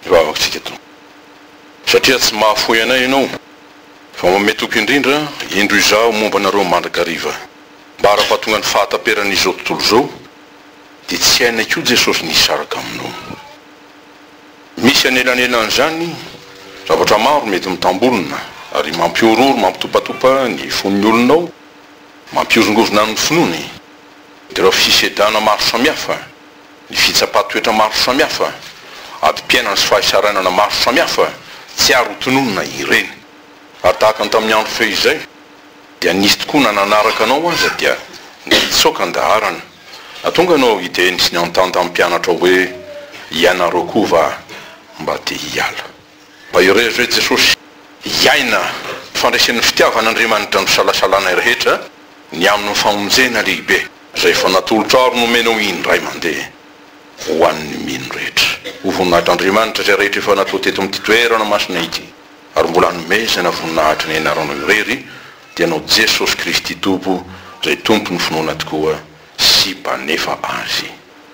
io vavakantsika ito. Satria tsy mahafoy anay ianao, fa manome toky indrindra, indro izaho momba anareo mandrakariva. Mba ara-pahatonga ny fahataperan' izao tontolo izao, dia tsy hainay koa Jesosy ny hisaraka aminao. Misy anelanelan' izany zavatra maro mety mitambolona, ary mampihorohoro, mampitopatopa ny fon' ny olona ao, mampihozongozona ny finoany, dia ireo fisedana maro samihafa, Ny fitsapan-toetra maro samihafa, adim-piainana sy fahaisarainana maro samihafa tsy ary hotononina ireny. Ary tahaka ny tamin'ny andro fehizay dia nisy tokoa na nanaraka anao aza dia nitsoaka ny daharana. Nahatonga anao hiteny sy niantanta ny mpianatra hoe, Ianareo koa va mba te hiala? Mahereza hoe Jesosy, hiaina fandresen'ny fitiavan'Andriamanitra misalasalana ny rehetra ny amin'ny famonjena lehibe izay efa natolotrao ary nomenao indray mandeha ho an'ny mino rehetra. Ho voninahitr'Andriamanitra izay rehetra efa natao teto amin'ity toerana masina ity ary mbola hanomezana voninahitra ny Anaranao irery dia anao Jesosy Kristy Tompo izay Tompon'ny finoana tokoa sy Mpanefa azy.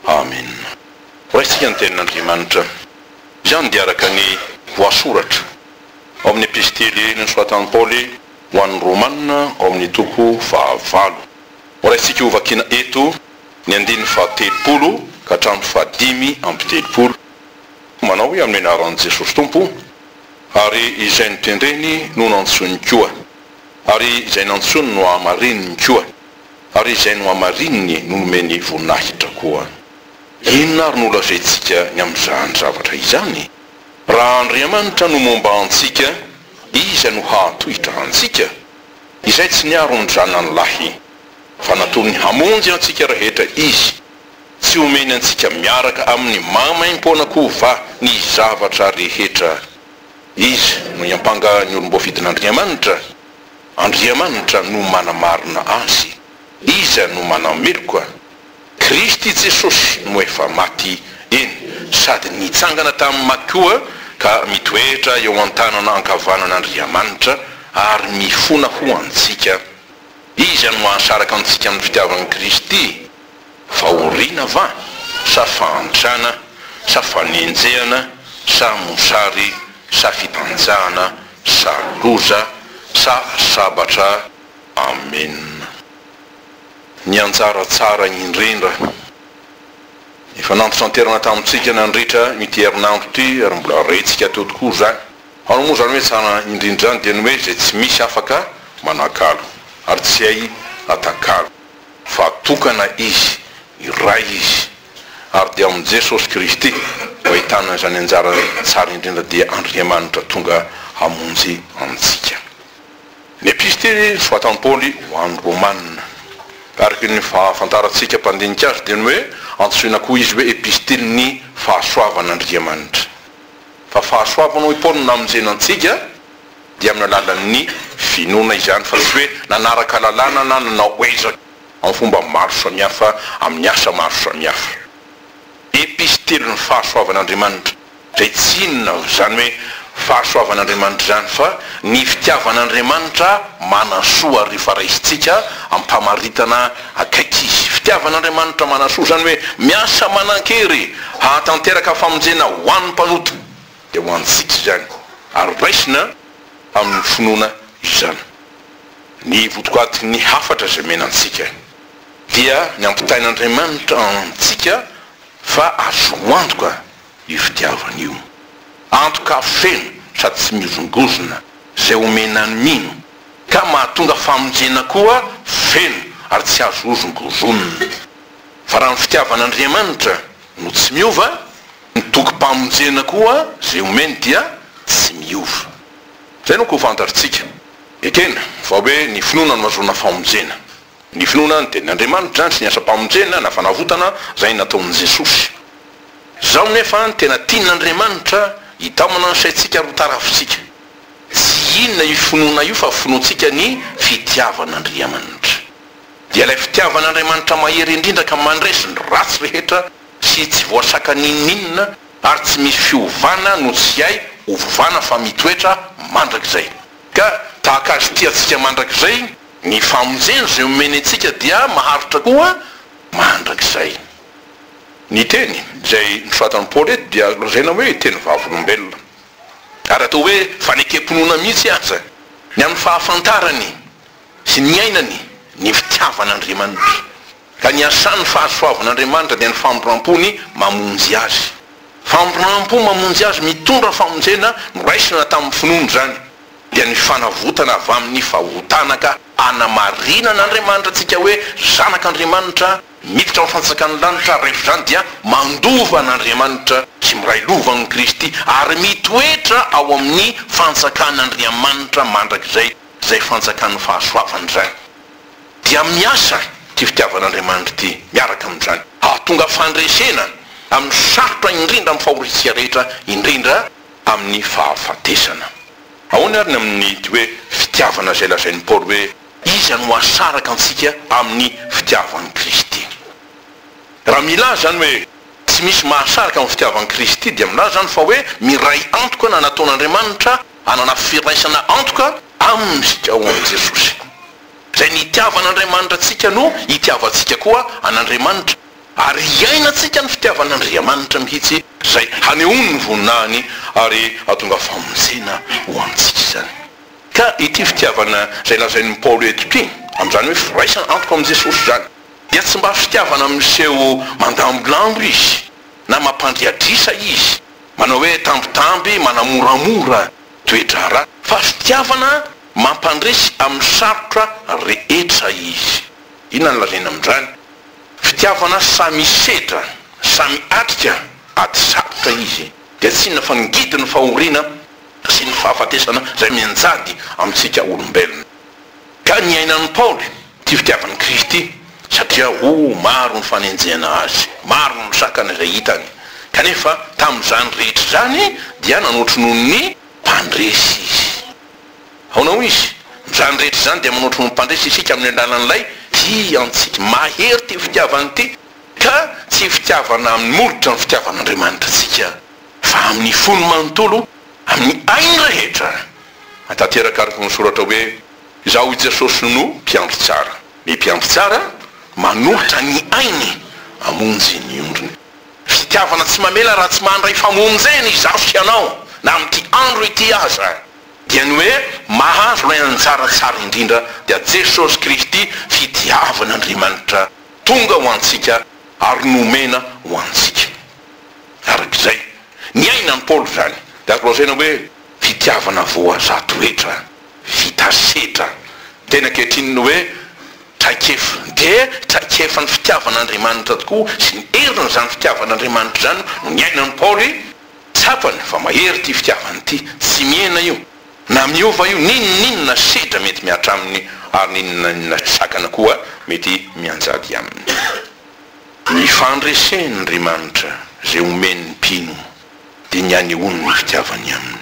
Amena. Horaisitsika ny Tenin'Andriamanitra. Izany dia araka ny voasoratra ao amin'ny Epistily nosoratan'i Paoly ho an'ny Romana ao amin'ny toko fahavalo. Horaisintsika hovakiana eto ny andininy fahatelopolo ka hatramin'ny fahadimy amby telopolo. Manao hoe amin'ny anaran'i Jesosy Tompo, ary izay notendreny no nantsoiny koa, ary izay nantsoiny no hahamarininy koa, ary izay nohamarininy no nomeny voninahitra koa. Inona ary no holazaintsika ny amin'izany zavatra izany? Raha Andriamanitra no momba antsika, iza no hahatohitra antsika? Izay tsy niaro ny Zanany lahy, fa natolony hamonjy antsika rehetra Izy, tsy homeny antsika miaraka amin'ny maimaim-poana koa va ny zavatra rehetra? Iza no hiampanga ny olom-boafidin'Andriamanitra? Andriamanitra no manamarina azy. Iza no manameloka? Kristy Jesosy no efa maty, eny, sady nitsangana tamin'ny maty koa, ka mitoetra eo an-tanana ankavanan'Andriamanitra, ary mifona ho antsika. Iza no hahasaraka antsika amin'ny fitiavan'i Kristy? Fahoriana va? Sa fahantrana? Sa fanenjehana? Sa mosary? Sa fitanjahana? Sa loza? Sa sabatra? Amena. ny anjara tsara indrindra. Efa nampitranterana tamintsika nandritra ity herinandro ity ary mbola rentsika teo tokoa izany. Ary moa izany hoe tsara indrindra izany dia ny hoe izay tsy misy afaka manakalo ary tsy hay atakalo. Fa tokana izy, iray izy, ary dia amin'i Jesosy Kristy no ahitana izany anjara tsara indrindra dia Andriamanitra tonga hamonjy antsika. Ny Epistily nosoratan'i Paoly ho an'ny Romana. Araka ny fahafantarantsika mpandinika azy dia ny hoe antsoina koa izy hoe Epistilin'ny fahasoavan'Andriamanitra. Fa fahasoavana hoy Paoly no namonjena antsika dia amin'ny alalan'ny finoana izany fa tsy hoe nanaraka lalàna na nanao ezaka amin'ny fomba maro samihafa amin'ny asa maro samihafa. Epistilin'ny fahasoavan'Andriamanitra. Dia tsy inona izany hoe fahasoavan'Andriamanitra izany fa ny fitiavan'Andriamanitra manasoa ary rehefa raisintsika am-pamaritana akaiky Izy. Fitiavan'Andriamanitra manasoa izany hoe miasa manan-kery hahatanteraka famonjena ho an'ny mpanota. Dia ho antsika izany ary raisina amin'ny finoana izany. Ny votoatin'ny hafatra izay omena antsika dia ny ampitain'Andriamanitra antsika fa azo antoka. io fitiavana io. Antoka feno sady tsy mihozongozona izay omena ny mino, ka mahatonga famonjena koa feno ary tsy azo hozongozonina. Fa raha ny fitiavan'Andriamanitra no tsy miova, ny tokim-pamonjena koa izay omeny dia tsy miova. Izay no koa fantatr'tsika. Ekena, fa hoe ny finoana no ahazoana famonjena. Ny finoana ny tenin'Andriamanitra sy ny asam-pamonjena na fanavotana izay nataon'i Jesosy. Izao nefa ny tena tian'Andriamanitra, hitamana ny saintsika ary ho tarafintsika. Tsy inona io finoana io fa finoantsika ny fitiavan'Andriamanitra. Dia ilay fitiavan'Andriamanitra mahery indrindra ka mandresy ny ratsy rehetra sy tsy voasaka n'inon'inona ary tsy misy fiovana no tsy hay hovovana fa mitoetra mandrakizay. Ka tahaka Azy tia antsika mandrakizay, Ny famonjena izay omeny antsika dia maharitra koa mandrakizay. Ny teny izay nosoratan'i Paoly eto dia lazaina hoe teny vavolombelona, ary atao hoe fanekem-pinoana mihitsy aza, ny amin'ny fahafantarany sy niainany ny fitiavan'Andriamanitra. Ka ny asan'ny fahasoavan'Andriamanitra dia ny famindram-pony mamonjy azy. Famindram-po mamonjy azy mitondra famonjena noraisina tamin'ny finoana izany, dia ny fanavotana avy amin'ny fahotana ka hanamarinan'Andriamanitra antsika hoe zanak'Andriamanitra miditra amin'ny fanjakan'ny lanitra, rehefa izany dia mandova an'Andriamanitra sy miray lova amin'i Kristy ary mitoetra ao amin'ny fanjakan'Andriamanitra mandrakizay, izay fanjakan'ny fahasoavana izany. dia miasa ity fitiavan'Andriamanitra ity miaraka amin'izany hahatonga fandresena amin'ny sarotra indrindra amin'ny fahoriantsika rehetra, indrindra amin'ny fahafatesana. Ahoana ary ny amin'ity hoe fitiavana izay lazain'i Paoly hoe iza no hasaraka antsika amin'ny fitiavan'i Kristy? Raha milaza izany hoe tsy misy mahasaraka amin'ny fitiavan'i Kristy dia milaza izany fa hoe miray antoka na nataon'Andriamanitra hanana firaisana antoka amintsika ao amin'i Jesosy. Izay nitiavan' Andriamanitra antsika no hitiavantsika koa an' Andriamanitra, ary hiainantsika ny fitiavan' Andriamanitra mihitsy, izay hanehoany ny voninahiny ary hahatonga famonjena ho antsika izany. Ka ity fitiavana izay lazain' i Paoly eto ity, amin' izany hoe firaisana antoka amin' i Jesosy izany, dia tsy mba fitiavana miseho mandambilamby izy na mampandriadrisa izy, manao hoe tambitamby, manamoramora, toe-draharaha fa fitiavana mampandresy amin'ny sarotra rehetra izy. Inona no lazaina amin'izany? Fitiavana samy hisedra, samy hiatrika ady sarotra izy, dia tsy inona fa ny ngidin'ny fahoriana sy ny fahafatesana izay mianjady amintsika olombelona. Ka niainan'i Paoly ity fitiavan'i Kristy ity, satria oh, maro ny fanenjehana azy, maro ny sakana izay hitany, kanefa tamin'izany rehetra izany dia nanotry noho ny mpandresy izy. Ahoana hoy izy? Amin'izany rehetra izany dia manotry noho ny mpandresy isika amin'ny alalan'ilay tia antsika. Mahery ity fitiavana ity, ka tsy fitiavana amin'ny molotra ny fitiavan'Andriamanitra antsika, fa amin'ny fony manontolo, amin'ny ainy rehetra. Atanteraka araka ny soratra hoe, Izaho i Jesosy no mpiandry tsara. Ny mpiandry tsara manohitra ny ainy hamonjy ny ondriny. Fitiavana tsy mamela raha tsy mandray famonjena izaho sy ianao, na amin'ity andro ity aza. Dia ny hoe mahazo ilay anjara tsara indrindra dia Jesosy Kristy fitiavan'Andriamanitra tonga ho antsika ary nomena ho antsika. Araka izay niainan'i Paoly izany dia azo lazaina hoe. Fitiavana voazato hetra, vita setra. Teny ankehitriny ny hoe traikefa dia traikefan'ny fitiavan'Andriamanitra tokoa sy ny herin'izany fitiavan'Andriamanitra izany no niainan'i Paoly. Tsapany fa mahery ity fitiavana ity, tsy mihena io na miova io, n'inon'inona sedra mety mihatra aminy ary n'inon'inona sakana koa mety mianjady aminy. Ny fandresen'Andriamanitra izay omen'ny mpino dia ny hanehoany ny fitiavany aminy.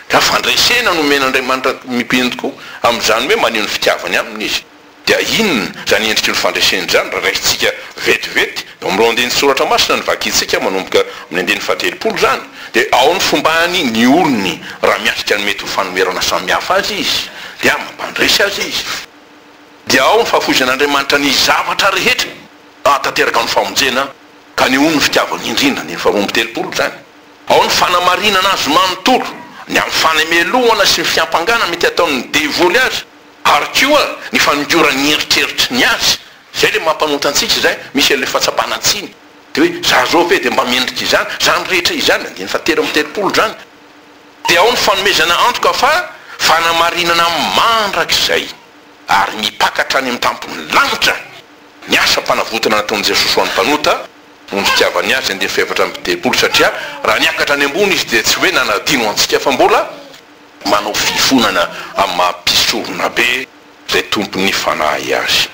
Ka fandresena no omen'Andriamanitra mipeny tokoa amin'izany hoe maneho ny fitiavany aminy Izy. Dia inona izany endriky ny fandresena izany raha raisintsika vetivety eo amin'ireo andinin-tsoratra masina novakintsika manomboka amin'ny andininy fahatelopolo izany? Dia ao ny fombany ny olony raha miatrika ny mety ho fanoherana samihafa azy izy dia mampandresy azy izy. Dia ao ny fahafoizan'Andriamanitra ny zavatra rehetra hahatanteraka ny famonjena. Kaneho ny fitiavany indrindra ny efa omby telopolo izany. Ao ny fanamarinana azy manontolo, ny amin'ny fanemelohana sy ny fiampangana mety ataon'ny devoly azy, ary koa ny fanongoran'ny eritreritra ny azy. Izay ilay mampanota antsika izay, misy an'ilay fahatsapana tsiny. Dia hoe, za zao ve dia mba mendrika izany? Izany rehetra izany, andininy fahatelo amby telopolo izany. Dia ao ny fanomezana antoka fa fanamarinana mandrakizay ary mipaka hatrany amin'ny tampon'ny lanitra. Ny asam-panavotana nataon'i Jesosy ho an'ny mpanota no nitiavany azy andiany fahefatra amby telopolo satria raha niakatra any ambony izy dia tsy hoe nanadino antsika fa mbola manao fifonana amin'ny maha mpisorona be izay tompon'ny fanahy azy.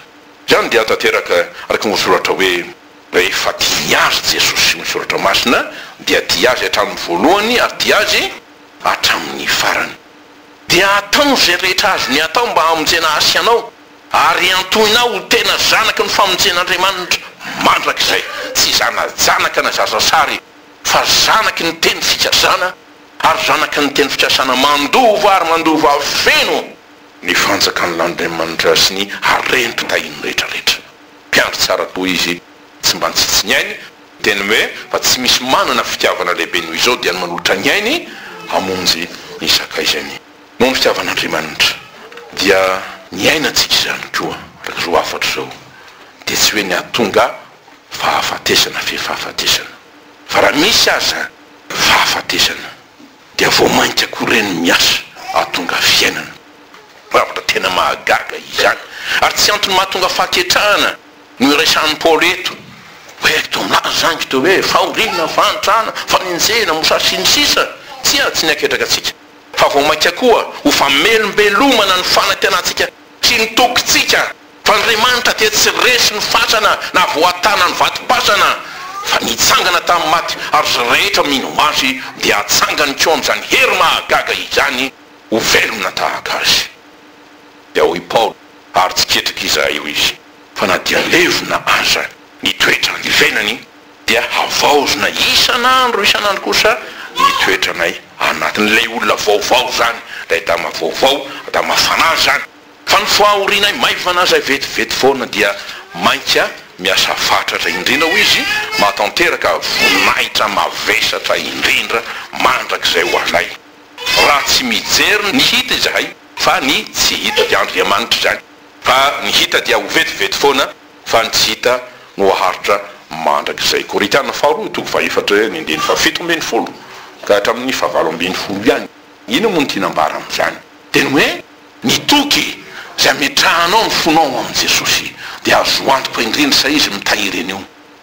Izany dia tanteraka araka ny voasoratra hoe rehefa tiany azy Jesosy ny soratra masina dia tia azy hatramin'ny voalohany ary tia azy hatramin'ny farany. Dia ataony izay rehetra azony atao mba hamonjena hasy anao. Ary iantohinao ho tena zanaky ny famonjen'Andriamanitra mandrakizay, tsy zana-janaka na zaza sary, fa zanaky ny teny fikasana, ary zanaky ny teny fikasana mandova ary mandova feno ny fanjakan'lAndriamanitra sy ny harem-pitahiny rehetrarehetra. Mpiandry tsara tokoa Izy, tsy mba nitsitsy ny ainy, teny hoe fa tsy misy manana fitiavana lehibe noho izao dia ny manolotra ny ainy hamonjy ny sakaizany. Noho ny fitiavan'Andriamanitra dia niaina antsika izany koa, raha izao hafatra izao dia tsy hoe ny hahatonga fahafatesana fe fahafatesana, fa raha misy aza fahafatesana dia vao mainka koa ireny miasa hahatonga fiainana. Zavatra tena mahagaga izany, ary tsy antony mahatonga fahaketrahana no iresahan'i Paoly eto, hoe eto milaza izany kitoa hoe fahoriana, fahantrana, fanenjehina, mosary sy ny sisa, tsia, tsy ny haketraka antsika. fa vao mainka koa ho famelombelomana ny fanantenantsika sy ny tokintsika fa Andriamanitra dia tsy resy ny fatrana na voatàna ny vatom-patrana fa nitsangana tamin'ny maty ary izay rehetra mino Azy dia hatsangany koa amin'izany hery mahagaga izany ho velona tahaka Azy. Dia hoy i Paoly, Ary tsy ketrika izahay io izy, fa na dia levona aza ny toetrany venany, dia havaozina isan'andro isan'andro kosa ny toetranay anatin'ilay olona vaovao izany, ilay Adama vaovao, Adama fanahy izany. Fa ny fahorianay maivana izay vetivety foana dia mainka miasa fatratra indrindra, hoy izy, mahatanteraka voninahitra mavesatra indrindra mandrakizay ho anay, raha tsy mijery ny hita izahay, fa ny tsy hita dia Andriamanitra izany, fa ny hita dia ho vetivety foana. fa ny tsy hita no haharitra mandrakizay. Korintiana faharoa, toko fahefatra ny andininy fahafito ambin'ny folo ka hatramin'ny fahavalo ambin'ny folo ihany. Inona moa no tiana ambara amin'izany? Dia ny hoe, ny toky izay ametrahanao ny fonao ho amin'i Jesosy dia azo antoka indrindra sa Izy mitahiry an'io,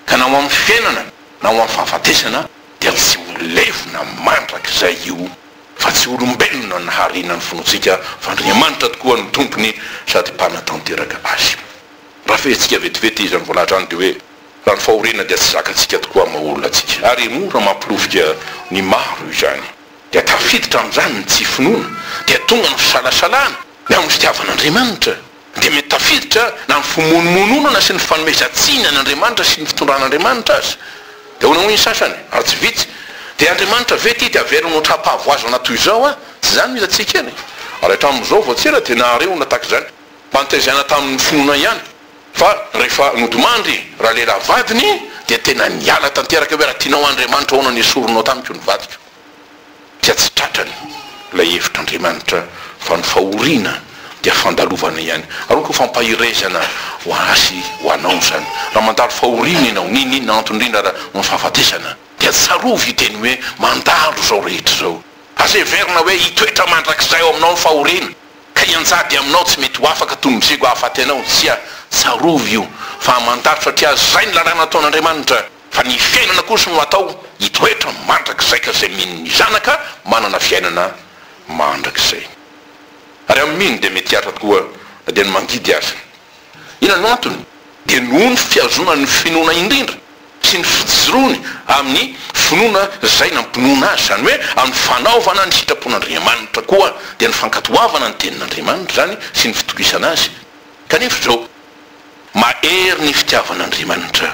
ka na ho amin'ny fiainana na ho amin'ny fahafatesana dia tsy ho levona mandrakizay io, fa tsy olombelona naharina ny fontsika fa Andriamanitra tokoa no Tompony sady Mpanatanteraka azy. Rafehintsika vetivety izany voalahatra izany dia hoe raha ny fahoriana dia tsy zakantsika tokoa amin'ny maha olona antsika ary mora mampilofika ny maro izany dia tafiditra amin'izany ny tsy finoana dia tonga ny fisalasalana ny amin'ny fitiavan'Andriamanitra dia mety tafiditra na ny fimonomononana sy ny fanomezan-tsiny an'Andriamanitra sy ny fitondran'Andriamanitra aza dia ahoana hoy ny sasany ary tsy vitsy dia Andriamanitra ve ity dia averina ho tra-pahavoazana toy izao aho tsy izany no hitantsika eny ary hatramin'izao vao tsy ela dia naharehona tahaka izany Antezaina tamin'ny finoana ihany fa rehefa nodimandry ralehilahy vadiny dia tena niala tanteraka hoe raha tianao Andriamanitra ahoana no esorinao tamiko ny vadiko? dia tsy tratrany ilay hevitr'Andriamanitra fa ny fahoriana dia fandalovana ihany ary hoy koa fampaherezana ho azy ho anao izany raha mandalo fahoriana ianao n'inon'inona antony indrindra ara ny fahafatesana dia tsarovy io teny hoe mandalo izao rehetra izao aza heverina hoe hitoetra mandrakizay ao aminao ny fahoriana Ka hianjady aminao tsy mety ho afaka toy ny mizego hahafaty anao, tsia, tsarovy io, fa hamantaritra aty azy izay ny lalàna ataon'Andriamanitra, fa ny fiainana kosa no hatao hitoetra mandrakizay ka izay mino ny zanaka manana fiainana mandrakizay, ary amin'ny mino dia mety hiatra tokoa na dia ny mangidy aza. Inona no antony? Dia noho ny fihazonany ny finoana indrindra sy ny fijoroany amin'ny finoana izay nampinoana azy, izany hoe amin'ny fanaovana ny sitrapon'Andriamanitra, koa dia ny fankatoavana ny Tenin'Andriamanitra izany sy ny fitokisana azy. Kanefa izao, mahery ny fitiavan'Andriamanitra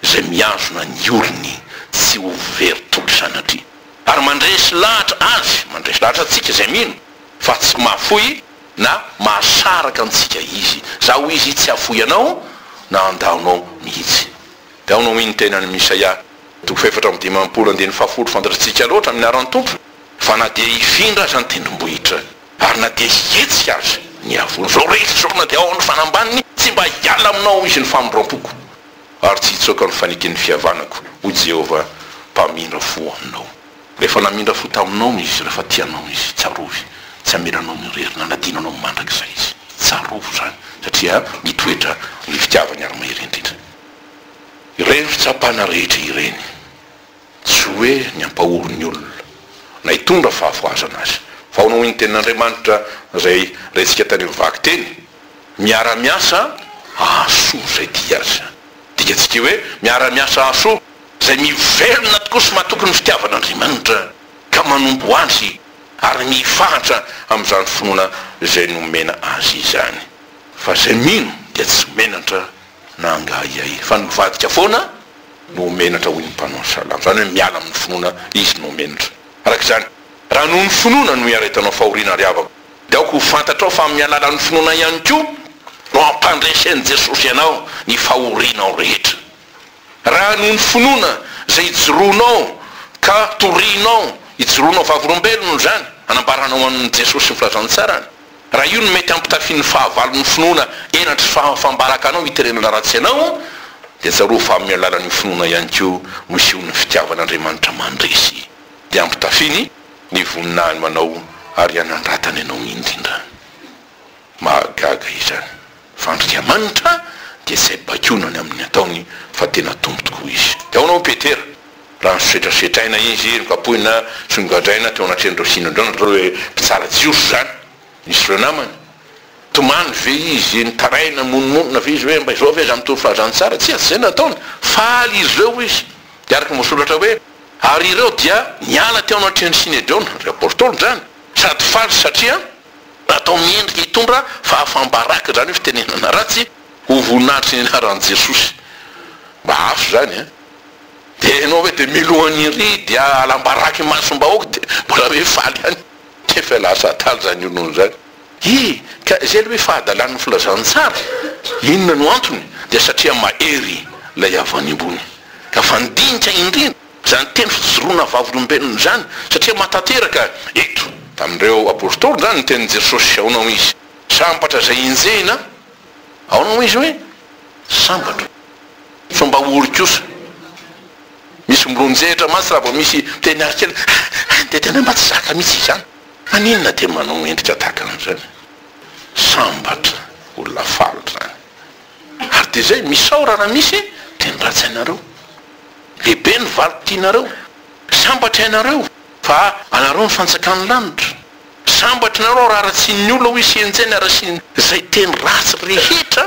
izay mihazona ny olony tsy ho very toky sanatria, ary mandresy lahatra azy, mandresy lahatra antsika izay mino fa tsy mahafoy. Na mahasaraka antsika izy. Za ho izy tsy hafoy anao na andaonao mihitsy. Dia ao no omeny ny tenany amin'i Isaia toko fahefatra amby dimampolo andininy fahafolo Fantatritsika loatra amin'ny anaran'ny Tompo fa na dia hifindra aza ny tendrombohitra ary na dia hihetsika aza ny havoana izao re izy izao na dia ao amin'ny fanambaniny tsy mba hiala aminao izy ny famindram-poko ary tsy hitsoaka ny faneken'ny fihavanako hoy Jehovah mpamindra fo aminao. Rehefa namindra fo taminao izy, rehefa tia anao izy, tsarovy, tsy hamela anao irery na hanadino anao mandrakizay izy. Tsarovy izany, satria mitoetra ny fitiavany ary mahery indrindra. Ireny fitsapana rehetra ireny, tsy hoe ny hampahory ny olona, na hitondra fahafohazana azy, fa ahoana hoy ny Tenin'Andriamanitra izay rentsika tany amin'ny vaky teny? Miara-miasa hahasoa izay tia azy. Dikantsika hoe miara-miasa hahasoa. izay mivelona tokoa sy matoky ny fitiavan'Andriamanitra ka manompo Azy ary mifahatra amin'izany finoana izay nomena azy izany. Fa izay mino dia tsy menatra na angahiahy, fa nivadika foana no menatra, hoy ny mpanao salamo, izany hoe miala amin'ny finoana izy no menatra. Araka izany, raha noho ny finoana no hiaretanao fahoriana ry havako, dia aoka ho fantatrao fa amin'ny alalan'ny finoana ihany koa no ampandresen'i Jesosy anao ny fahorianao rehetra. Raha noho ny finoana izay ijoroanao ka torianao ijoroanao vavolombelona izany anambaranao an'i Jesosy sy ny Filazantsarany, raha io no mety hampitafian'ny fahavalon'ny finoana henatry sy fahafam-baraka anao hiterena ratsy anao, dia tsarovy fa amin'ny alalan'io finoana ihany koa no isehoan'ny fitiavan'Andriamanitra mandresy dia ampitafiany ny voninahiny ho anao ary hanandratany anao indrindra. Mahagaga izany! Fa Andriamanitra dia tsy hay baikoina ny amin'ny ataony fa tena Tompo tokoa Izy. Dia ahoana hoy Petera? Raha nosetrasetraina Izy, nokapohina sy nogadraina teo anatrehan'ireo sinodrona, ireo hoe mpitsara jiosy izany, nisy ireo namany. Tomany ve Izy? Nitaraina, monomonona ve Izy hoe mba izao ve aza mitory fahazany tsara? Tsia, tsy izay no nataony. Faly ireo Izy. Dia araka ny voasoratra hoe, Ary ireo dia niala teo anatrehan'ny sinedrona, ry apôstôly izany, sady faly satria. Natao miendrika hitondra fahafam-baraka izany io fitenenana ratsy ho voninahitry ny anaran'i Jesosy. Mba hafa izany an! Dia ianao ve dia miloha ery dia alam-baraka imasom-bahoaka dia mbola hoe faly ihany? Efa lasa adala izany olona izany. Hi, ka izay ilay hoe fahadalan'ny filazantsara. Inona no antony? Dia satria mahery ilay avy any ambony ka fandinika indrindra. Izany teny fijoroana vavolombelona izany, satria matanteraka eto. Tamin'ireo Apôstôly izany ny tenin'i Jesôsy, aona hoy Izy? Sambatra izay enjehina, aona hoy Izy hoe? Sambatra. Fomba ory kosa. Misy milonjehitra mantsy raha vao misy teny ary kely, any dia tena mba tsy zaka mihitsy izany. Maninona dia manao endrika tahaka an'izany? Sambatra, olona faly izany. Ary dia izay, misaora raha misy teny ratsy anareo. Lehibe ny valiko tianareo. Sambatra ianareo fa anareo ny fantsakan'ny lanitra. Sambatra ianareo raha haratsian'ny olona hoy Senjain haratsian'ny izay teny ratsy rehetra.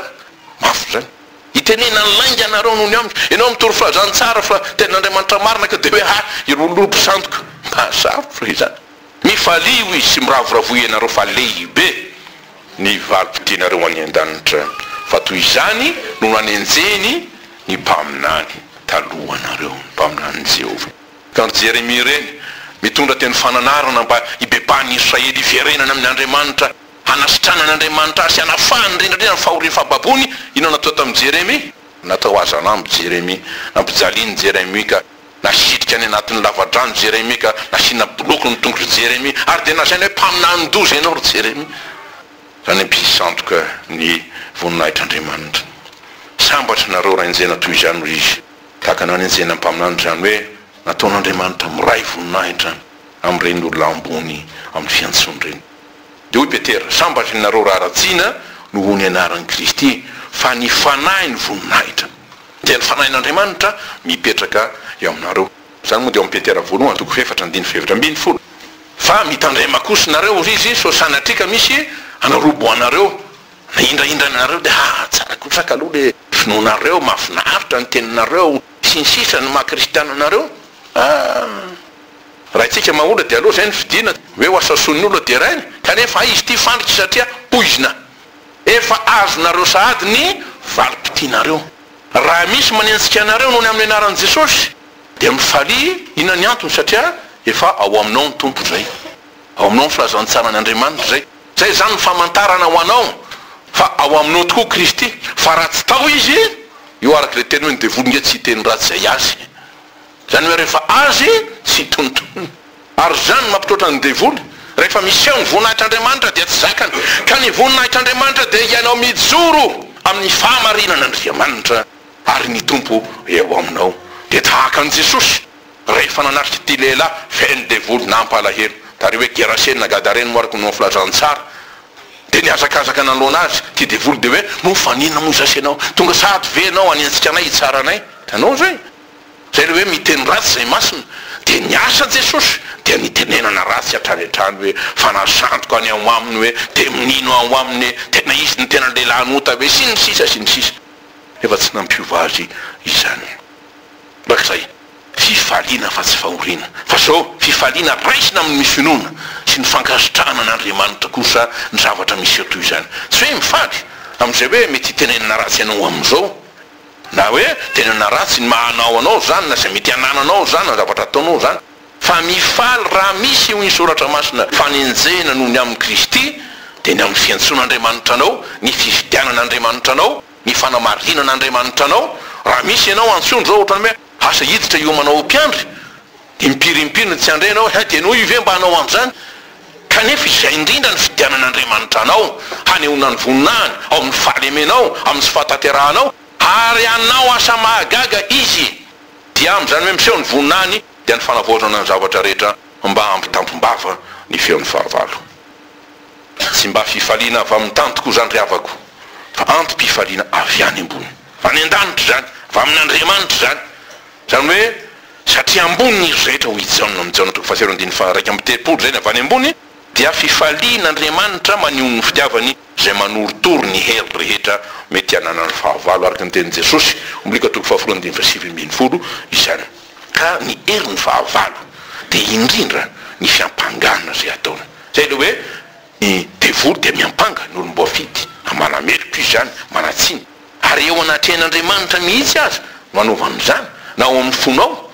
Mafy izany. Itenenan'ny lainga anareo nony amiko. Ianao mitory filazantsara fa tenin'Andriamanitra marina ka dia hoe ahy ireo lobo sandoka. Mazava izany. Mifalio izy sy miravoravoa ianareo fa lehibe ny valim-potianareo any an-danitra fa toy izany no nanenjehiny ny mpaminany talohanareo, ny mpaminanin'i Jehovah. Ka ry Jeremia ireny, mitondra teny fananarana mba hibebahan'ny Israely hiverenany amin'Andriamanitra, hanasitrana an'Andriamanitra azy sy hanafahany indrindra indrindra ny fahorian'ny fahababoany. Inona no natao tamin'i Jeremia? Natao hazanambo Jeremia. Nampijalian'i Jeremia ka. Nasitrika any anatin'ny lava-drano Jeremia ka nasiana boloky ny tongotr'i Jeremia ary dia nasaina hoe mpaminanin-doza ianao ry Jeremia, izany hoe mpisandoka ny voninahitr'Andriamanitra. Sambatra ianareo raha enjehina toy izany, hoy izy. Tahaka ny hanenjehina ny mpaminany izany hoe nataon'Andriamanitra miray voninahitra amin'ireny olona ambony amin'ny fiantsoany ireny. Dia hoy Petera, Sambatra ianareo raha ratsina noho ny anaran'i Kristy, fa ny Fanahy no voninahitra. Dia ny Fanahin'Andriamanitra mipetraka eo aminareo. Izany moa dia ao amin'ny Petera voalohany toko fahefatra andininy fahefatra ambin'ny folo. Fa mitandrema kosa ianareo, hoy izy, sao sanatria ka misy hanorobo anareo na hindrahindra anareo, dia hahatsara kosa ka aloha ilay finoanareo, mahafinaritra ny teninareo, sy ny sisa, ny maha-kristiana anareo. Ah! Raintsika maha-olona dia aleo izay no fidiana, hoe ho asasoan'ny olona deraina, kanefa hay izy ity fandrika satria poizina Efa azonareo sahady ny valim-pitianareo. Raha misy manenjika anareo noho ny amin'ny anaran'i Jesosy, dia mifalia, inona ny antony? Satria efa ao aminao ny Tompo izay. Ao aminao ny filazantsaran' Andriamanitra izay. Izay izany ny famantarana ho anao fa ao aminao tokoa Kristy. Fa raha tsy tao Izy, eo araka izay teny hoe ny devoly nge tsy hiteny ratsy izay Azy. Zany hoe rehefa azy tsy tontoniny. Ary izany no mampitroatra ny devoly, rehefa miseho ny voninahitr'Andriamanitra dia tsy zakany, ka ny voninahitr'Andriamanitra dia hianao mijoro amin'ny fahamarinan'Andriamanitra, ary ny Tompo eo aminao. Dia tahaka an'i Jesosy rehefa nanatrika ity lehilahy feno devoly nampalahelo tary hoe Geraseny na Gadareny moa araka ny ho filazan'ny tsara, dia nihazakazaka nanoloana azy ity devoly dia hoe, Noho fa ninona moa izao sy ianao? Tonga sahady ve ianao haniantsika anay hitsara anay? Hitanao ve? Izay ilay hoe miteny ratsy izay masina, dia ny asa Jesosy dia nitenenana ratsy hatrany hatrany hoe fanasandoka any ao aminy hoe dia mino ao aminy tena izy ny tena lehilahy an'ota hoe sy ny sisa sy ny sisa nefa tsy nampiova azy izany araka izay fifaliana fa tsy fahoriana fa izao fifaliana raisina amin' ny finoana sy ny fankasitrahana an' Andriamanitra kosa ny zavatra miseho toy izany tsy hoe mifaly amin' izay hoe mety hitenenana ratsy ianao amin' izao Na hoe tena na ratsy ny maha anao anao izany, na izay mety hanananao izany, na ny zavatra ataonao izany. Fa mifaly raha misy eo ny soratra masina fanenjehina noho ny amin'i Kristy, dia ny amin'ny fiantsoan'Andriamanitra anao, ny fifidianan'Andriamanitra anao, ny fanamarinan'Andriamanitra anao, raha misy ianao antsoiny izao ohatran'ny hoe asa hiditra hiomanao ho mpiandry, Impiry impiry no tsy handre anao hay dia noho io ve mba hanao an'izany? Kanefa izay indrindra no fidianan'Andriamanitra anao, hanehoana ny voninahiny ao amin'ny fahalemenao, amin'ny tsy fahatanterahanao, ary hanao asa mahagaga Izy, dia amin'izany hoe miseho ny voninahiny dia ny fanavaozana ny zavatra rehetra mba hampitampim-bava ny feon'ny fahavalo. Tsy mba fifaliana avy amin'ny tany tokoa izany ry havako, fa antom-pifaliana avy any ambony, any an-danitra izany, avy amin'Andriamanitra izany, izany hoe Satria ambonin'izy rehetra, hoy i Jaona amin'ny Jaona toko fahatelo andininy faha-iraika amby telopolo, izay ny avy any ambony, dia fifalian'Andriamanitra maneho ny fitiavany izay manorotoro ny hery rehetra mety hananan'ny fahavalo, araka ny tenin'i Jesosy, Ombliko toko fahafolo andininy fahasivy ambin'ny folo, izany. Ka ny herin'ny fahavalo dia indrindra ny fiampangana izay ataony. Izay ilay hoe. Ny devoly dia miampanga ny olom-boafidy, manamely toy izany, manatsiny, ary eo anatrehan'Andriamanitra mihitsy aza no anaovany izany, na ao amin'ny fonao,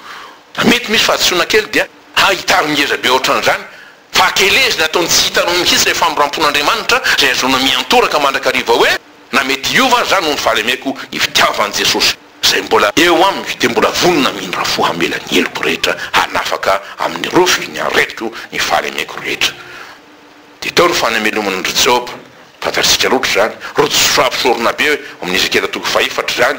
na mety misy fahadisoana kely dia ahitany ngeza be ohatran'izany, fa akelezina ataony tsy hitanao mihitsy ilay famindram-pon'Andriamanitra izay ahazoana miantoraka mandrakariva hoe, na mety hiova aza aho noho ny fahalemeko ny fitiavan'i Jesosy. izay mbola eo amiko dia mbola vonona amindra fo hamela ny heloko rehetra hanafaka amin'ny rofy ny aretiko ny fahalemeko rehetra dia tao ny fanameloman'ndry Joba fantatsika loatra izany rotsy fahampisorona be amin'ny Ezekiela toko fahefatra izany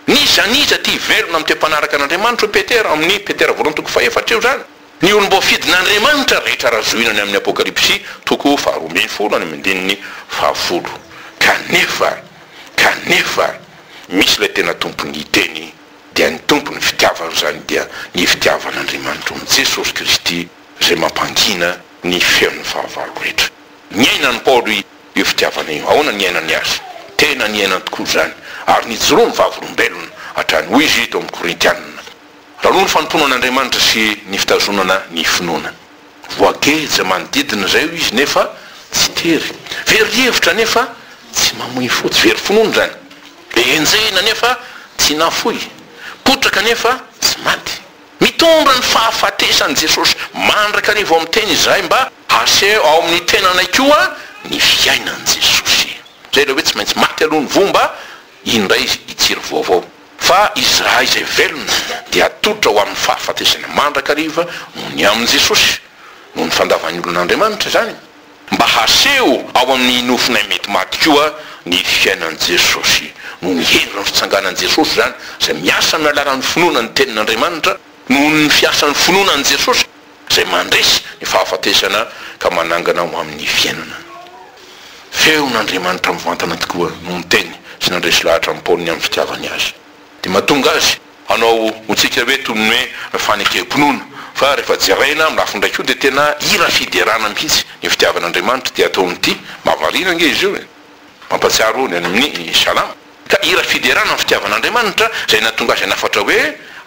n'iza n'iza tia velona amin'ny toe-mpanaraka an'Andriamanitra hoy Petera amin'ny Petera voalohany toko fahefatra eo izany Ny olom-boafidin'Andriamanitra rehetra raha zohina any amin'ny Apokalypsy, toko faharoa ambin'ny folo any amin'ny andininy fahafolo. Kanefa, kanefa, misy ilay tena Tompon'ny hiteny, dia ny Tompon'ny fitiavan'izany dia ny fitiavan'Andriamanitra ao amin'i Jesosy Kristy izay mampangina ny feon'ny fahavalo rehetra. Niainan'i Paoly io fitiavana io. Ahoana ny niainany azy? Tena niainany tokoa izany, ary nijoroany vavolombelona hatrany. Hoy izy tao amin'ny Korintianina. Taloha ny fanompoana an'Andriamanitra sy ny fitazonana ny finoana. Voageja manodidina izay hoy izy nefa tsy tery. Very hevitra nefa tsy mamoy fo, tsy very finoana izany. Be enjehina nefa tsy nafoy, potraka nefa tsy maty. Mitondra ny fahafatesany Jesosy. Mandraka ny vao miteny izahay mba haseho ao amin'ny tenanay koa ny fiainan'i Jesosy. Izay ilay hoe tsy maintsy maty aloha ny voa mba. indray i Jiro vaovao, fa izy raha izay velona dia atolotra ho amin'ny fahafatesana mandrakariva noho ny amin'i Jesosy, noho ny fandavan'ny olon'Andriamanitra izany, mba haseho ao amin'ny nofonay mety maty koa ny fiainan'i Jesosy, noho ny herin'ny fitsanganan'i Jesosy izany, izay miasa amin'ny alalan'ny finoana ny Tenin'Andriamanitra, noho ny fiasan'ny finoana an'i Jesosy izay mandresy ny fahafatesana ka manangana ho amin'ny fiainana. Feon'Andriamanitra mivantana tokoa no niteny sy nandresy lahatra an'i Paoly ny amin'ny fitiavany azy. Dia mahatonga azy hanao ho tsika hoe toy ny hoe fanekem-pinoana. Fa rehefa jeraina amin'ny lafiny iray koa dia tena hira fiderana mihitsy ny fitiavan'Andriamanitra dia toa mitia. Mahavariana ange izy io e! Mampatsiaro ny any amin'ny Salamo. Ka hira fiderana ny fitiavan'Andriamanitra izay nahatonga azy hanafatra hoe,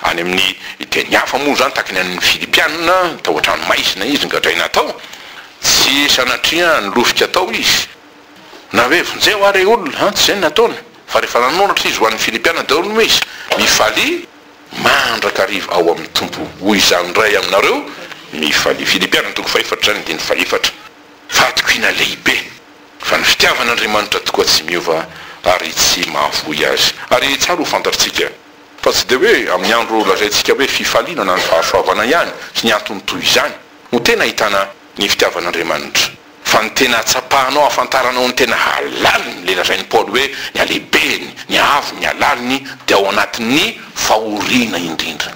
any amin'ny teny hafa moa izany, tahaka ny an'ny Filipiana, tao an-tranomaizina izy nogadraina tao, tsy sanatria nilofika tao izy, na hoe vonjeo ary ry olona, an, tsy izay no nataony, fa rehefa nanoratra izy ho an'ny Filipiana daholo moa izy, Mifalia mandrakariva ao amin'ny Tompo, hoy izany indray aminareo, mifalia. Filipiana toko fahefatra izany, andininy fahefatra. Fahatokiana lehibe. Fa ny fitiavan'Andriamanitra tokoa tsy miova ary tsy mahavoy azy. Ary tsara ho fantatrtsika fa tsy dia hoe amin'ny andro lazaintsika hoe fifaliana na ny fahasoavana ihany sy ny antony toy izany no tena ahitana ny fitiavan'Andriamanitra fa ny tena atsapahanao ahafantaranao ny tena halaliny ilay lazain'i Paoly hoe ny halehibeny, ny haavony, ny halaliny dia ao anatin'ny fahoriana indrindra.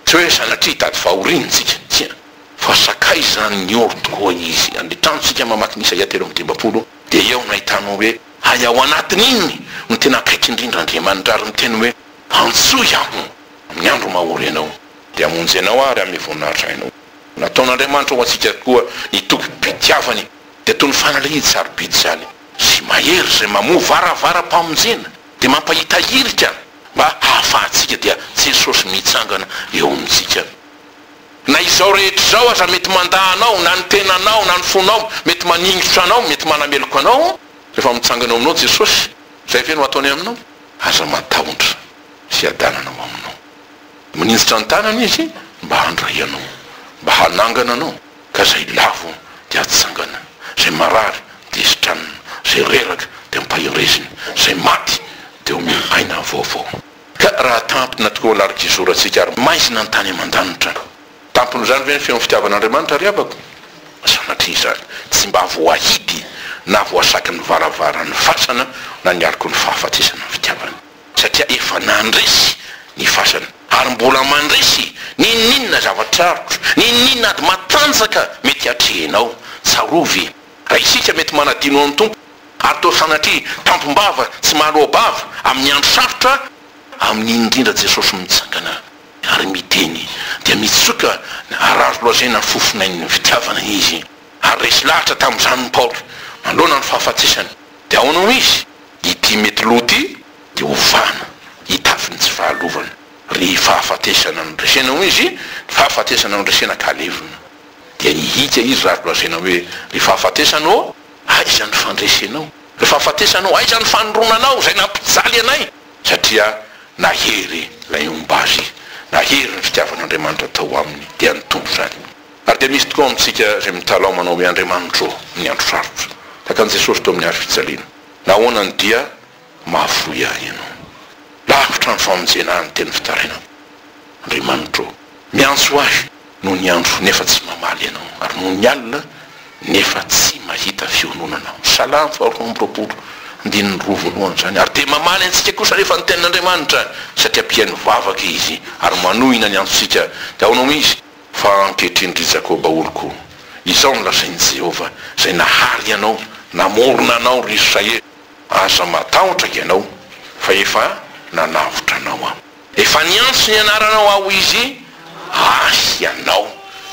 Tsy hoe sanatria hitady fahoriana isika, tsia. Fa sakay izany ny oro tokoa izy. Any an-trano isika mamaky ny Isaia telo amby dimampolo dia eo no ahitanao hoe hay ao anatin' iny no tena akaiky indrindra Andriamanitra ary miteny hoe antsoy aho amin'ny andro mahory ianao dia hamonjy anao aho ary hanome voninahitra anao. Nataon' Andriamanitra ho antsika koa ny tobim-pitiavany dia toy ny fanalahidy sarobidy izany sy mahery izay mamoha varavaram-pamonjena dia mampahita irika mba hahafahantsika dia Jesosy mitsangana eo amintsika. Na izao rehetra izao aza mety mandà anao, na ny tenanao, na ny fonao, mety maningotra anao, mety manameloka anao, rehefa mitsangana eo aminao Jesosy, izay ve no ataony aminao? Aza matahotra, hiadanana ao aminao. Maninjitra ny tanany Izy mba handray anao, mba hanangana anao, ka izay lavo dia hatsangana, izay marary dia hisitranina, izay reraka dia hampaherezina, izay maty dia homena aina vaovao. Ka raha tampina tokoa ny Arkizoroantsika ary maizina ny tany aman-danitra. Tampon'izany ve ny feon'ny fitiavan'Andriamanitra ry havako? Sanatria izany tsy mba voahidy na voasaky ny varavaran'ny fasana na ny aloky ny fahafatesana ny fitiavana. Satria efa nandresy ny fasana ary mbola mandresy n'inon'inona zava-tsarotra, n'inon'inona ady matanjaka mety hatrehinao. Tsarovy, raha isika mety manadino an'ny Tompo, ary toa sanatria tampom-bava tsy mahaloa-bava amin'ny andro sarotra amin'iny indrindra Jesosy mitsangana ary miteny dia mitsoka ny harary lazaina ny fofonain'ny fitiavana Izy ary resy lahatra tamin'izany Paoly manoloana ny fahafatesany dia ahoana hoy izy ity mety lo ity dia ovana hitafy ny tsy fahalovana ry fahafatesana no resena hoy izy ny fahafatesana no resena ka levona dia hihika izy raha lazaina hoe ry fahafatesana ô Aiza ny fandresenao? Ny fahafatesanao? Aiza ny fanoronanao izay nampijaly anay? Satria nahery ilay homba azy, nahery ny fitiavan'Andriamanitra tao aminy, dia nitombo izany. Ary dia misy tokoa amintsika izay mitalaho manao hoe, Andriamanitro ô, ny andro sarotra. Takan'i Jesosy teo amin'ny hazo fijaliana. Nahoana ny dia? Mahafoy ahy Ianao. Lavitra ny famonjena ahy ny teny fitarainana. Andriamanitra ô, miantso ahy noho ny andro nefa tsy mamaly Ianao, ary noho ny alina nefa tsy mahita fiononana. Salamo faharoa amby roapolo, andininy roa voalohany izany. Ary dia mamaly antsika kosa anefa ny tenin'Andriamanitra, satria mpihaino vavaka Izy, ary manohina ny antsontsika. Dia ahoana hoy Izy? Fa ankehitriny, ry Jakoba oloko, izao no lazain'i Jehovah, izay nahary anao, namorona anao, ry Israely, Aza matahotra ianao, fa efa nanavotra anao Aho. Efa niantso ny anaranao Aho izy, ahy ianao.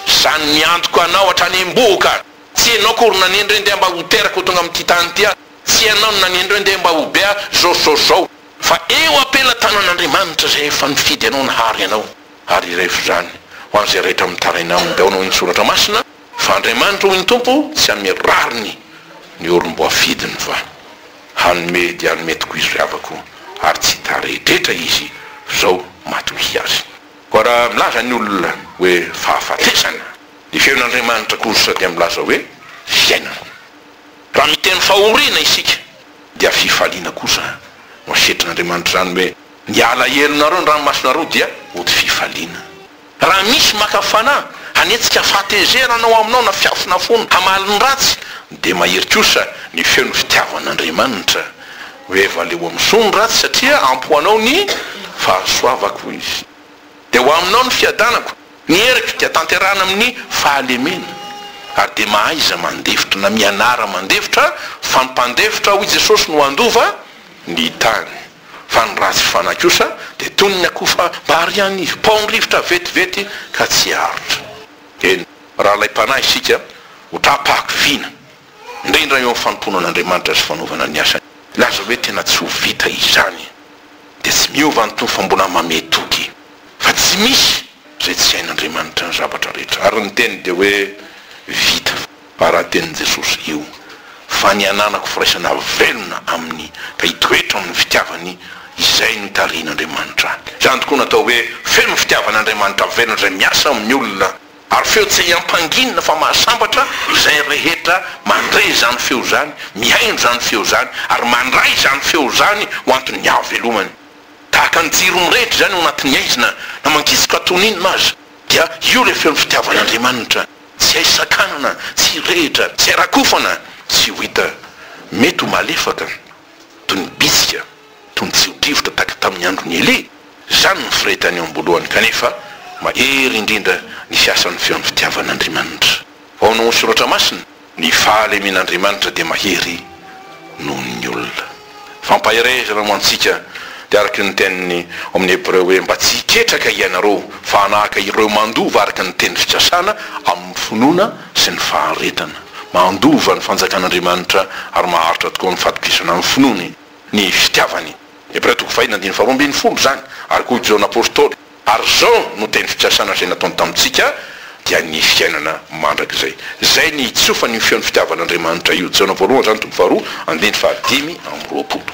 Izany niantoka anao hatrany am-bohoka. Tsy ianao akory nanendry andeha mba ho teraka ho tonga amin'ity tany ity Aho. Tsy ianao no nanendry andeha mba ho be Aho, izao sy izao sy izao. Fa eo am-pelatanan'Andriamanitra izay efa nifidy anao nahary anao, ary irevo izany ho an'izay rehetra mitaraina aminy. Dia ao no eny Soratra Masina. Fa Andriamanitra, hoy ny Tompo, tsy hanome rariny ny olom-boafidiny, fa hanome dia hanome tokoa Izy ry havako, ary tsy hitaredretra Izy zao matokia azy. Koa raha milaza ny olona hoe fahafatesana, ny feon'Andriamanitra kosa dia milaza hoe fiainana. Raha miteny fahoriana isika, dia fifaliana kosa no asetrin'Andriamanitra izany hoe, Ny alahelonareo ny ranomasonareo dia hody fifaliana. Raha misy maka fanahy hanetsika fahatezerana anao aminao na fiafina fony hamaly ny ratsy dia mahery kosa ny feon'ny fitiavan'Andriamanitra hoe evaleo misoa ny ratsy satria ampy ho anao ny fahasoavako izy dia ho aminao ny fiadanako ny heriko dia tanterahina amin'ny fahalemena ary dia mahaiza mandefitra na mianara mandefitra fa ny mpandefitra hoy Jesosy no handova ny tany. Fa ny ratsy fanahy kosa dia toy ny akoho fa marian'ny paon-drivotra vetivety ka tsy arotra. Eny, rahalahy-panahy isika, ho taham-pahakiviana, indrindra eo amin'ny fanompoana an'Andriamanitra sy fanaovana ny asany. Laza hoe tena tsy ho vita izany, dia tsy miova an'itony fa mbola mamehy toky fa tsy misy izay tsy hain'Andriamanitra ny zavatra rehetra. Ary ny teniny dia hoe vita. Baraha tenin'i Jesosy io fa ny hananako firaisana velona Aminy ka hitoetra amin'ny fitiavany izay no tarihin'Andriamanitra ahy. Izany tokoa no atao hoe feno fitiavana Andriamanitra velona izay miasa amin'ny olona ary feo tsy ampanginina fa mahasambatra izay rehetra mandre izany feo izany, mihaino izany feo izany ary mandray izany feo izany ho anton'ny hahavelomany. Tahaka ny jiro mirehitra izany ao anatin'ny aizina na mangizoka toy n'inona aza dia io ilay feon'ny fitiavan'Andriamanitra. Tsy hay sakanana, tsy hirehitra, tsy hay rakofana, tsy ho hita. Mety ho malefaka, toy ny bitsika, toy ny tsiro-drivotra tahaka tamin'ny andron'i Elia. Izany no firehetany eo am-boalohany, kanefa mahery indrindra ny fiasan'ny feon'ny fitiavan'Andriamanitra. Ao amin' ny Soratra Masina, ny fahalemen'Andriamanitra dia mahery noho ny olona. Fampaherezana ho antsika dia araka ny teniny ao amin'ny Hebreo hoe, Mba tsy hiketraka hianareo, fa hanahaka ireo mandova araka ny teny fikasana, amin'ny finoana sy ny faharetana. Mandova ny fanjakan'Andriamanitra ary maharitra tokoa amin'ny fatokisana amin'ny finoany ny fitiavany. Hebreo toko fahiny andininy faharoa ambin'ny folo izany ary koa Jaona Apostoly. Ary izao no teny fikasana izay nataony tamintsika, dia ny fiainana mandrakizay. Izay ny hitsofany io feon'ny fitiavan'Andriamanitra io. Jaona voalohany izany toko faharoa andininy fahadimy amby roapolo.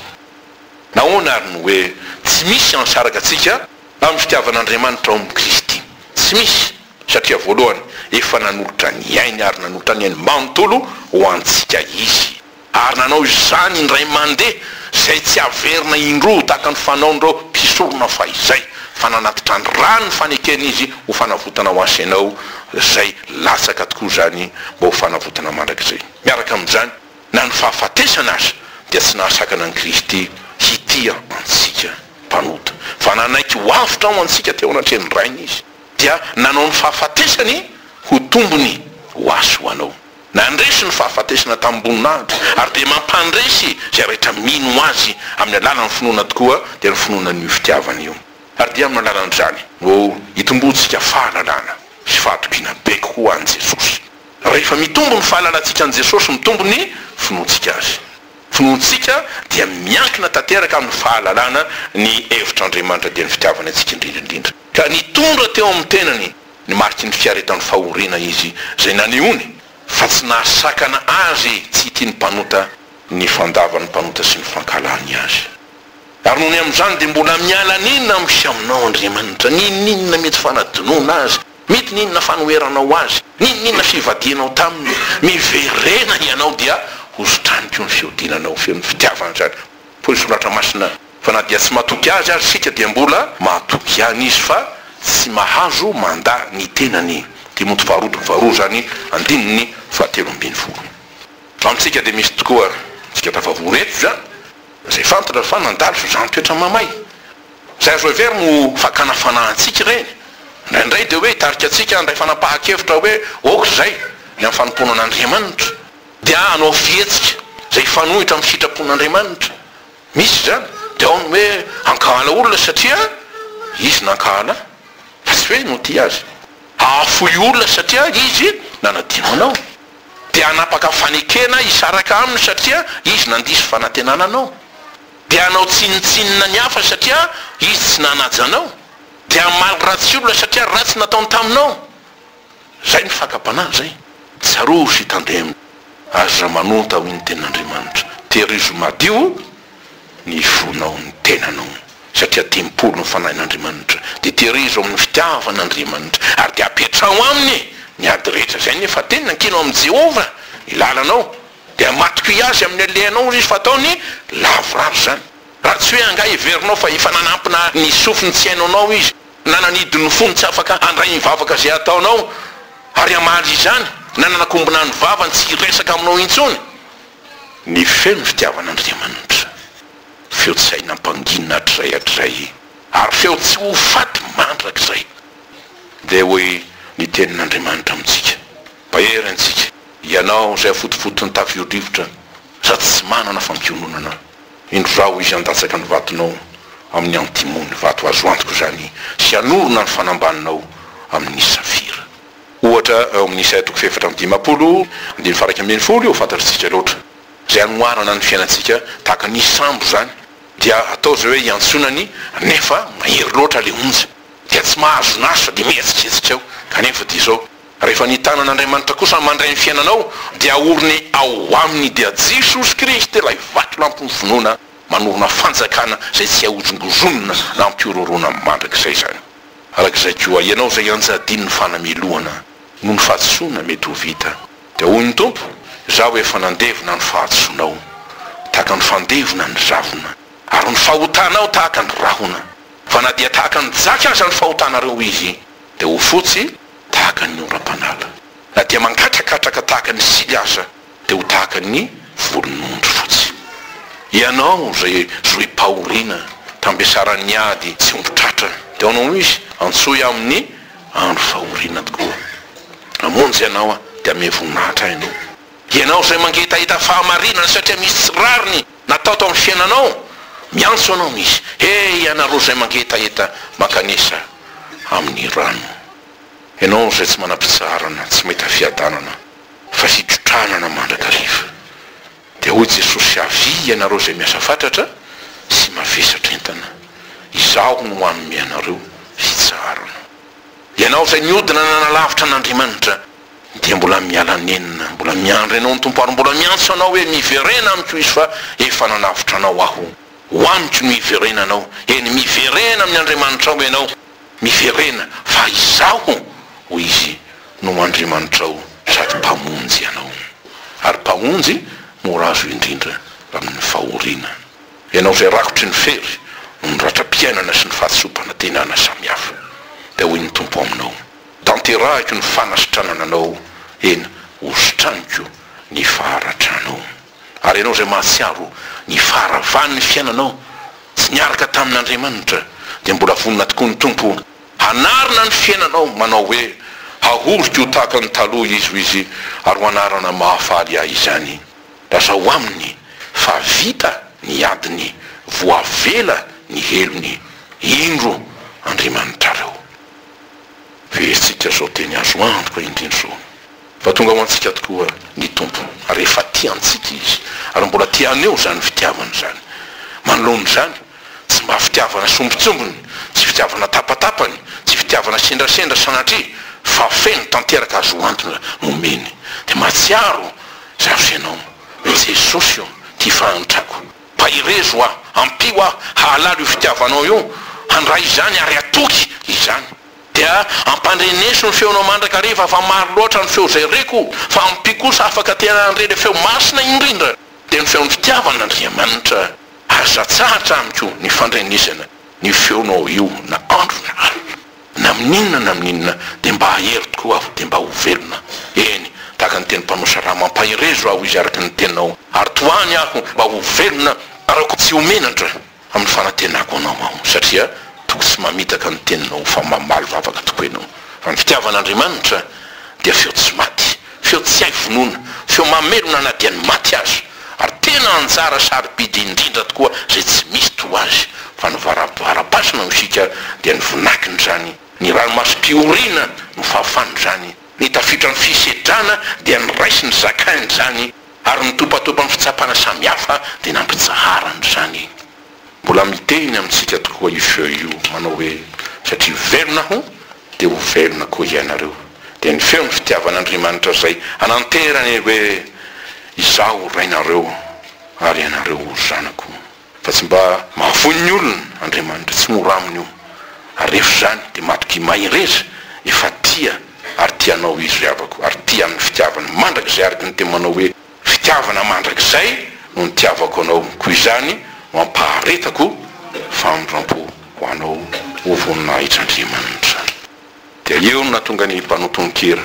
Nahoana ary no hoe tsy misy hansaraka antsika amin'ny fitiavan'Andriamanitra ao amin'i Kristy? Tsy misy, satria voalohany, efa nanolotra ny ainy ary nanolotra ny ainy manontolo ho antsika Izy. Ary nanao izany indray mandeha, izay tsy haverina indroa tahaka ny fanaon'ireo mpisorona fahizay, fa nanatitra ny ra ny fanekeny izy ho fanavotana ho ahy sy ianao, izay latsaka tokoa izany mba ho fanavotana mandrakizay. Miaraka amin'izany, na ny fahafatesana aza dia tsy nahasakana an'i Kristy hitia antsika mpanota, fa nanaiky ho avotra ho antsika teo anatrehan'ny Rainy Izy, dia nanao ny fahafatesany ho tombony ho ahy sy ho anao. Nandresy ny fahafatesana tamim-boninahitra ary dia mampandresy izay rehetra mino Azy amin'ny alalan'ny finoana tokoa dia ny finoana an'io fitiavana io. Ary dia amin'ny alalan'izany no itomboantsika fahalalana sy fahatokiana be kokoa an'i Jesosy. Rehefa mitombo ny fahalalantsika an'i Jesosy, mitombo ny finoantsika Azy. Finoantsika dia miankina tanteraka amin'ny fahalalana ny hevitr'Andriamanitra dia ny fitiavany antsika indrindra indrindra ka nitondra teo amin'ny tenany ny mariky ny fiaretany fahoriana izy izay nanehoany fa tsy nahasakana azy tsy hitia ny mpanota ny fandavan'ny mpanota sy ny fankahalany azy. Ary nony amin'izany dia mbola miala an'inona amin'ny sy aminao Andriamanitra, n'inon'inona mety fanadinoana azy, mety n'inona fanoheranao azy, n'inon'inona fivadihanao taminy, miverena ianao dia hozotraniko ny fihodinanao feno fitiavana izany, hoy ny soratra masina. Fa na dia tsy matoky azy ary isika dia mbola matoky ihany izy fa tsy mahazo mandà ny tenany. Timoty faharoa toko faharoa izany andininy fahatelo ambin'ny folo. Amintsika dia misy tokoa antsika tafavory eto izany izay fantatra fa nandalo fizaham-toetra mamay. Izay azo heverina ho fakana fanahy antsika ireny. Indraindray dia hoe hitarika antsika handray fanapahan-kevitra hoe aoka izay ny amin'ny fanompoana an'Andriamanitra dia hanao fihetsika izay hifanohitra amin'ny sitrapon'Andriamanitra. Misy izany, dia ao ny hoe ankahana olona satria izy nankahana fa tsy hoe notia azy. Hahafoy olona satria izy nanadino anao. Dia hanapaka fanekena hisaraka aminy satria izy nandiso fanantenana anao. Dia hanao tsinontsinona ny hafa satria izy tsy nanaja anao. Dia hamaly ratsy olona satria ratsy nataony taminao. Zay ny fakam-panahy zay. Tsarovy sy tandemo. Aza manonta hoy ny Tenin'Andriamanitra. Tehirizo madio ny fonao, ny tenanao. Satria tempoly ny Fanahin'Andriamanitra. Dia tehirizo amin'ny fitiavan'Andriamanitra. Ary dia apetraho aminy ny ady rehetra. Zay ny efa teny. Nankino amin'i Jehovah ny lalanao. Dia matokia azy amin'ny halehanao hoy izy fa ataony lavorary izany. Raha tsy hoe angaha heverinao fa efa nanampina ny sofiny tsy haino anao izy. na nanidy ny fony tsy afaka handray ny vavaka izay ataonao, ary hamaly izany, na nanakombona ny vavany tsy hiresaka aminao intsony. Ny feo ny fitiavan'Andriamanitra, feo tsy hay nampangina hatrizay hatrizay, ary feo tsy ho faty mandrakizay. Dia hoy ny Tenin'Andriamanitra amintsika, Mahery antsika, ianao izay afotofoton'ny tafio-rivotra, sady tsy manana fampiononana. Indro izaho izy handatsaka ny vatonao amin' ny antimony, vato azo antoko izany, sy hanorina ny fanambaninao amin' ny safira. Ohatra, ao amin' Isaia toko fahefatra amby dimampolo andininy faha iraika ambin'ny folo, fantatritsika loatra izay hanoharana ny fiainantsika tahaka ny sambo izany, dia atao izay hoe iantsoana ny nefa mahery loatra ilay onja, dia tsy mahazo naso, dia mihetsiketsika ao, kanefa dia izao. Rehefa ny tanan'Andriamanitra kosa mandray ny fiainanao dia aoriny ao aminy dia Jesosy Kristy ilay vatolampin'ny finoana manorina fanjakana izay tsy ahozongozonina na ampiororona mandrakizay izany. Araka izay koa ianao izay anjadin'ny fanamelohana noho ny fahadisoana mety ho vita dia hoy ny Tompo izaho efa nandevona ny fahadisoanao tahaka ny fandevona ny ravina ary ny fahotanao tahaka ny rahona fa na dia tahaka ny jaky aza ny fahotanareo izy dia ho fotsy tahaka ny oram-panala. Na dia mangatrakatraka tahaka ny sily aza dia ho tahaka ny volon'ondry fotsy. Ianao izay zohim-pahoriana, tambesaran'ny ady tsy omby tratra, dia ao no izy antsoy amin'ny andro fahoriana tokoa. Hamonjy anao dia hamehy voninahitra ahy ianao. Ianao izay mangetaheta fahamarinana satria misy tsy rariny. Natao tao amin'ny fiainanao? Miantso anao Izy, He ianareo izay mangetaheta mankanesa amin'ny rano. Ianao izay tsy manam-pitsaharana, tsy mahita fiadanana, fa hitotranana mandrakariva. Dia hoy Jesosy, Avia ianareo izay miasa fatratra sy mavesatra entana, Izaho no hanome anareo fitsaharana. Ianao izay niodina nanalavitra an'Andriamanitra. dia mbola miala nenina, mbola miandry anao ny Tompo ary mbola miantso anao hoe miverena amiko izy fa efa nanavotra anao aho, ho amiko no hiverenanao, eny miverena amin'ny Andriamanitrao ianao, miverena fa izaho hoy izy no Andriamanitrao sady Mpamonjy anao, ary Mpamonjy mora azo indrindra amin'ny fahoriana, ianao izay rakotry ny fery noho ny ratram-piainana sy ny fahatsoam-panantenana samihafa, dia hoy ny Tompo aminao. Tanterahiko ny fanasitranana anao eny hositraniko ny faharatranao. Ary ianao izay mahatsiaro ny faharavan'ny fiainanao tsy niaraka tamin'Andriamanitra dia mbola vonona tokoa ny Tompo hanarina ny fiainanao manao hoe, Hahoriko ho tahaka ny taloha izy, hoy Izy, ary ho anarana mahafaly ahy izany. Lazao aminy fa vita ny adiny, voavela ny helony. Indro Andriamanitrareo. Verintsika izao teny azo antoka indrindra izao fa tonga ho antsika tokoa ny Tompo ary efa tia antsika Izy ary mbola te haneho izany fitiavany izany. Manoloana izany, tsy mba fitiavana sombintsombiny, tsy fitiavana tapatapany, tsy fitiavana sendrasendra sanatria fa feno tanteraka azo antona no omeny. Dia mahatsiaro izaho sy ianao hoe Jesosy ô, ity fahantrako. Mpaherezo aho, ampio aho hahalala io fitiavanao io, handray izany ary hatoky izany. Dia ampandreneso ny feonao mandrakariva fa maro loatra ny feo izay reko, fa ampio kosa afaka tena handre ilay feo masina indrindra, dia ny feon'ny fitiavan'Andriamanitra. Aza atsahatra amiko ny fandrenesana ny feonao io na andro na alina. Na amin'ny inona na amin'ny inona, dia mba hahery tokoa aho, dia mba ho velona. Eny, tahaka ny teny mpanosra raha mampaherezo aho izy araka ny tenao, ary tohany aho mba ho velona, araoko tsy ho menatra amin'ny fanantenako anao aho, satria toa tsy mamitaka ny teninao fa mamaly vavaka tokoa ianao, fa ny fitiavan'Andriamanitra dia feo tsy maty. Feo tsy hay vonoina, feo mamelona na dia ny maty aza, ary tena anjara sarobidy indrindra tokoa izay tsy misy toa azy, fa ny varavaram-pasana no siaka dia ny vinakiny izany, ny ranomasom-piorina no fahafany izany, ny tafiotra ny fisedrana dia niraisiny zakainy izany, ary ny topatopan'ny fitsapana samihafa dia nampitsaharany izany. Mbola miteny amintsika tokoa io feo io manao hoe satria velona aho dia ho velona koa ianareo. Dia ny feon'ny fitiavan'Andriamanitra izay hananterany hoe izaho ho Rainareo ary ianareo ho zanako. Fa tsy mba mahavoa ny olona Andriamanitra, tsy mora aminy io. Ary rehefa izany dia matokia mahereza efa tia ary tia anao Izy ry havako ary tia amin'ny fitiavana mandrakizay araka ny teny manao hoe Fitiavana mandrakizay no nitiavako anao, koa izany no ampaharetako famindrampo ho anao, ô voninahitr'Andriamanitra. Dia eo no nahatonga ny mpanao tononkira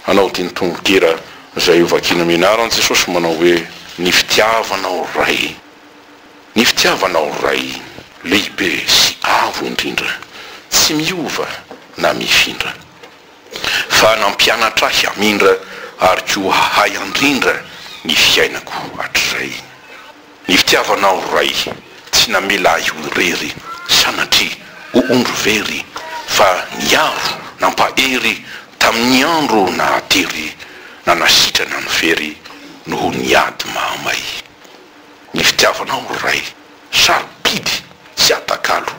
hanao ity tononkira izay hovakina mianara an'i Jesosy manao hoe, Ny fitiavanao Ray, ny fitiavanao Ray, lehibe sy avo indrindra, tsy miova na mifindra. fa nampianatra ahy hamindra ary koa hahay handrindra ny fiainako hatrizay. Ny fitiavanao Ray tsy namela ahy ho irery sanatria ho ondry very fa niaro nampahery tamin'ny andro nahatery nanasitrana ny very noho ny ady mahamay. Ny fitiavanao Ray Sarobidy sy atakalo,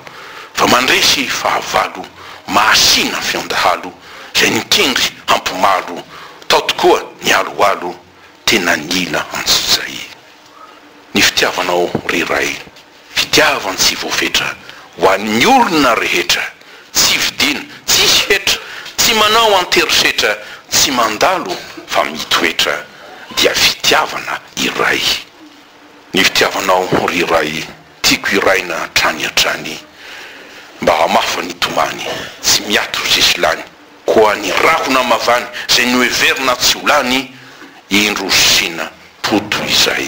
fa mandresy fahavalo, mahasina fion-dahalo, zay nikendry hampimalo, tao tokoa ny aloalo, tena nila antsy zay. Ny fitiavanao ry Ray, fitiavan tsy voafetra, ho an'ny olona rehetra, tsy vidiana, tsisy hetra, tsy manao an-terisetra, tsy mandalo fa mitoetra, dia fitiavana iray. Ny fitiavanao ry iray tiako hiraina hatrany hatrany mba hamafa ny tomany tsy miato sisy lany koa ny rahona mavany zay noheverina tsy ho lany indro rosina po toy izay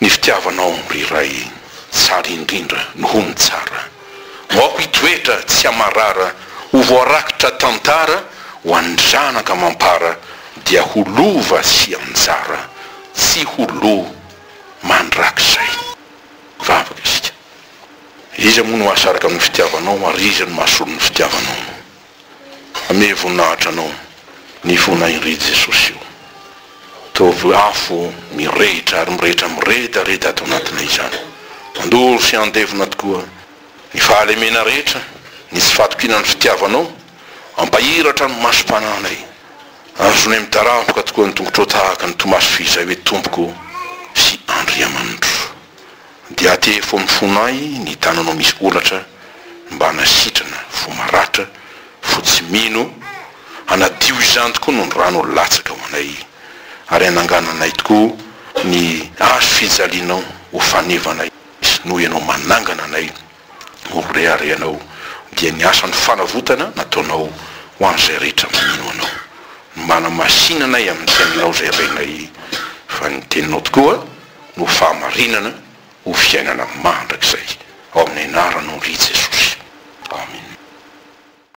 ny fitiavanao ry iray tsara indrindra noho ny tsara moako hitoetra tsy hamarara ho voarakitra tantara ho an'ny zanaka mampara dia ho lova sy anjara Tsy ho lo mandrakizay. Vavaka isika. Iza moa no hahasaraka ny fitiavanao ary iza no mahasolo ny fitiavanao? Amehy voninahitra anao ny fona iry Jesosy io. Ataovy afo mirehitra ary mirehitra miredareda ato anatinay izany. Handoro sy handevona tokoa ny fahalemena rehetra, ny tsy fahatokiana ny fitiavanao. Ampahiratra ny masom-panahinay. Azonay mitarafoka tokoa ny tongotrao tahaka ny Tomaso f'izay hoe Tompoko sy Andriamanitro. Dia atevo amin'ny fonay ny tananao misy olatra mba hanasitrana fo maratra, fo tsy mino, hanadio izany tokoa noho ny ranao latsaka ho anay ary hanangananay tokoa ny Hazo fijalianao ho fanevanay sy noho Ianao manangana anay. Mirehareha anao dia ny asan'ny fanavotana nataonao ho an'izay rehetra mino anao. Manamasinanay amin'ny teninao izay renay fa ny teninao tokoa no fahamarinana ho fiainana mandrakizay. Ao amin'ny anaranao ry Jesosy. Amina.